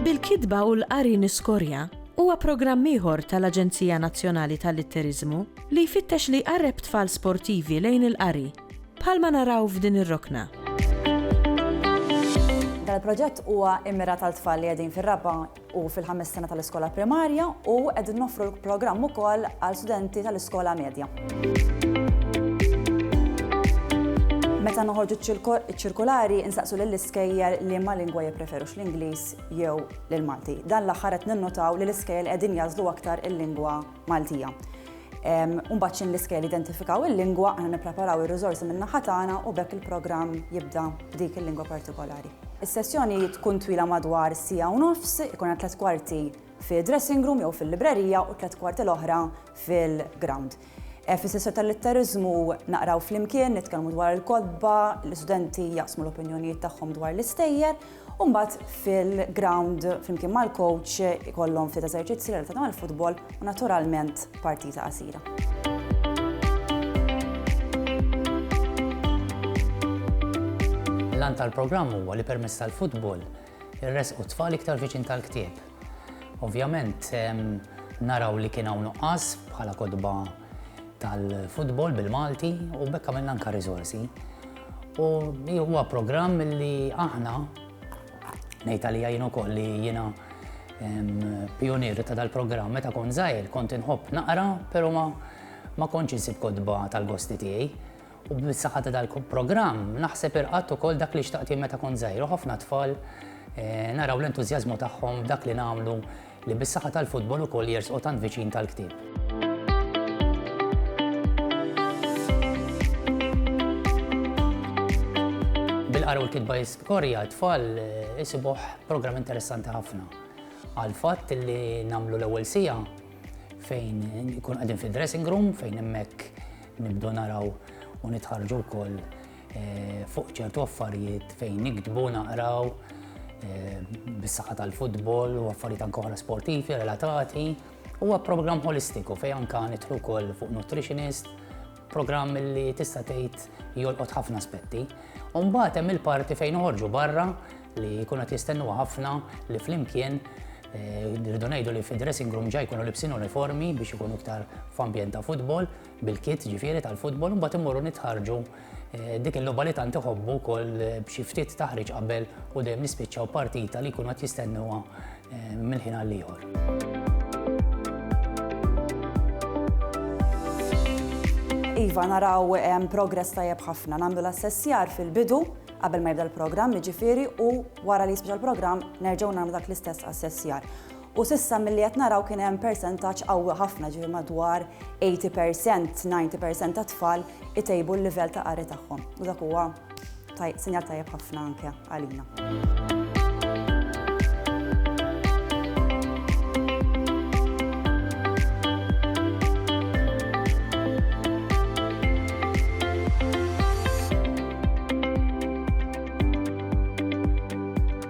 Bil-Kitba u l-Qari Niskorja huwa programm ieħor tal-Aġenzija Nazzjonali tal-Litteriżmu li jfittex li jqarreb tfal sportivi lejn il-qari. Bħalma naraw f'din ir-rokna. Dan il-proġett huwa immirat għal tfal li qegħdin fir-raba' u fil-ħames sena tal-iskola primarja u qegħdin noffru l-programm ukoll għal studenti tal-iskola medja. Meta noħorġu ċ-ċirkolari insaqsu lill-iskejjer li ma lingwa jippreferux l-Ingliż jew l-Malti. Dan l-aħħar qed ninnotaw li l-iskejjer qegħdin jażlu aktar il-lingwa Maltija. Mbagħad x'in l-iskejl identifikaw il-lingwa, aħna nippreparaw ir-riżorsi min-naħa tagħna u bekk il-programm jibda b'dik il-lingwa partikolari. Is-sessjoni tkun twila madwar siegħa u nofs, ikun hemm tliet kwarti fi dressing room jew fil-librerija u tliet kwarti l-oħra fil-ground. Eh, Fis-sessjoni tal-litteriżmu naqraw flimkien, nitkellmu dwar il-kodba, l-istudenti jaqsmu l-opinjonijiet tagħhom dwar l-istejjer U mbagħad fil-ground flimkien mal-coach ikollhom ftit eżerċizzi relatati mal-futbol u naturalment partita qasira. L-għan tal-programm huwa li permezz tal-futbol irresqu tfal iktar viċin tal-ktieb. Ovvjament naraw li kien hawn nuqqas bħala kotba tal-futbol bil-Malti u bekk għamilna anka riżorsi. U huwa programm li aħna ngħid għalija jien ukoll li jiena pionier ta' dal-programm meta kon żgħir kont inħobb naqra, però ma ma kontx insib kodba tal-gosti tiegħi. U bis-saħħa ta' dal-programm naħseb irqatt ukoll dak li xtaqt meta kont żgħir u ħafna tfal eh, naraw l-entużjażmu tagħhom dak li nagħmlu Li bis-saħħa tal-futbol ukoll jersqu tant viċin tal-ktieb. Bil-qara u l-kitba jiskorja tfal eh, isibuh programm interessanti ħafna. Għal fatt li namlu l-ewwel sija fejn ikun qegħdin fid-dressing room fejn hemmhekk nibdu naraw u nitħarġu wkoll Eh, fuq ċertu affarijiet fejn nikdbu naqraw eh, bis-saħħa tal-futbol u affarijiet anke oħra sportivi relatati. Huwa programm holistiku fejn anke nitlu wkoll fuq nutritionist, programm li tista' tgħid jolqot ħafna aspetti. U mbagħad hemm il-parti fejn uħorġu barra li jkun qed jistennu ħafna li flimkien eh, rridu ngħidu li fid-dressing room ġaj jkunu libsin uniformi biex ikunu iktar f'ambjent ta' futbol, bil-kit ġifieri tal-futbol u mbagħad immorru nitħarġu eh, dik il-logħba li tant iħobbu wkoll eh, b'xi ftit taħriġ qabel u dejjem nispiċċaw partita li jkunu qed jistennuha eh, mill-ħin għal ieħor. Iva, naraw progress tajjeb ħafna, nagħmlu l-assessjar fil-bidu qabel ma jibda l-programm, ġifiri u wara li jisbġa l-programm nerġgħu nagħmlu dak l-istess assessjar. U s'issa milli qed naraw kien hemm persentaġġ qawwi ħafna, ġifieri madwar 80 percent, 90 percent tat-tfal itejbu l-livell ta' qari tagħhom. U dak huwa sinjal tajjeb ħafna anke għalina.